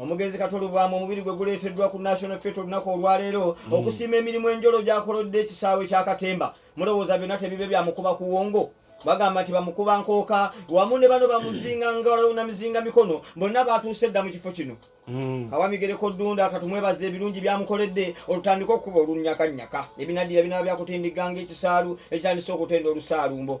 omugenzi katolubwamu omubiri gwe guleeteddwa ku national fet olunaku olwaleero mm. okusiima emirimu enjolo gyakolodde ekisaawe kyakatemba mulowooza byonna tebibe byamukuba kuwongo bagamba nti bamukuba nkooka wamu ne bano bamuzinga ngalo na mizinga mikono bonna batuuse dda mu kifo kino mm. kawamigereko ddunda katumwebaza ebirungi byamukoledde olutandika okukuba olunyakanyaka ebinaddira binaba byakutindigga ngaekisaalu ekitandise okutenda olusaalumbo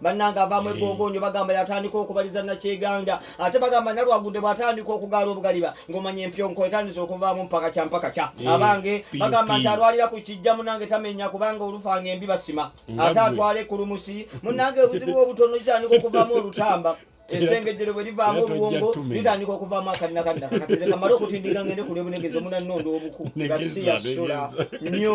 bannange avaamu egongonyo bagamba yatandika okubaliza nakyeganga ate bagamba nalwagudde bwatandika okugaala obugaliba ngomanya empyonko etandise okuvaamu mpaka kya mpaka kya abange bagamba nti alwalira ku kijja munange tamenya kubanga olufanga embi basima ate atwala ekulumusi munange obuzibu obutono kitandika okuvaamu olutamba esengejero bwe livaamu obwongo litandika okuvaamu akalina kalina kakatize kamale okutindiga ngende kulya obunegezi omunanonda obuku gasiya sula nyo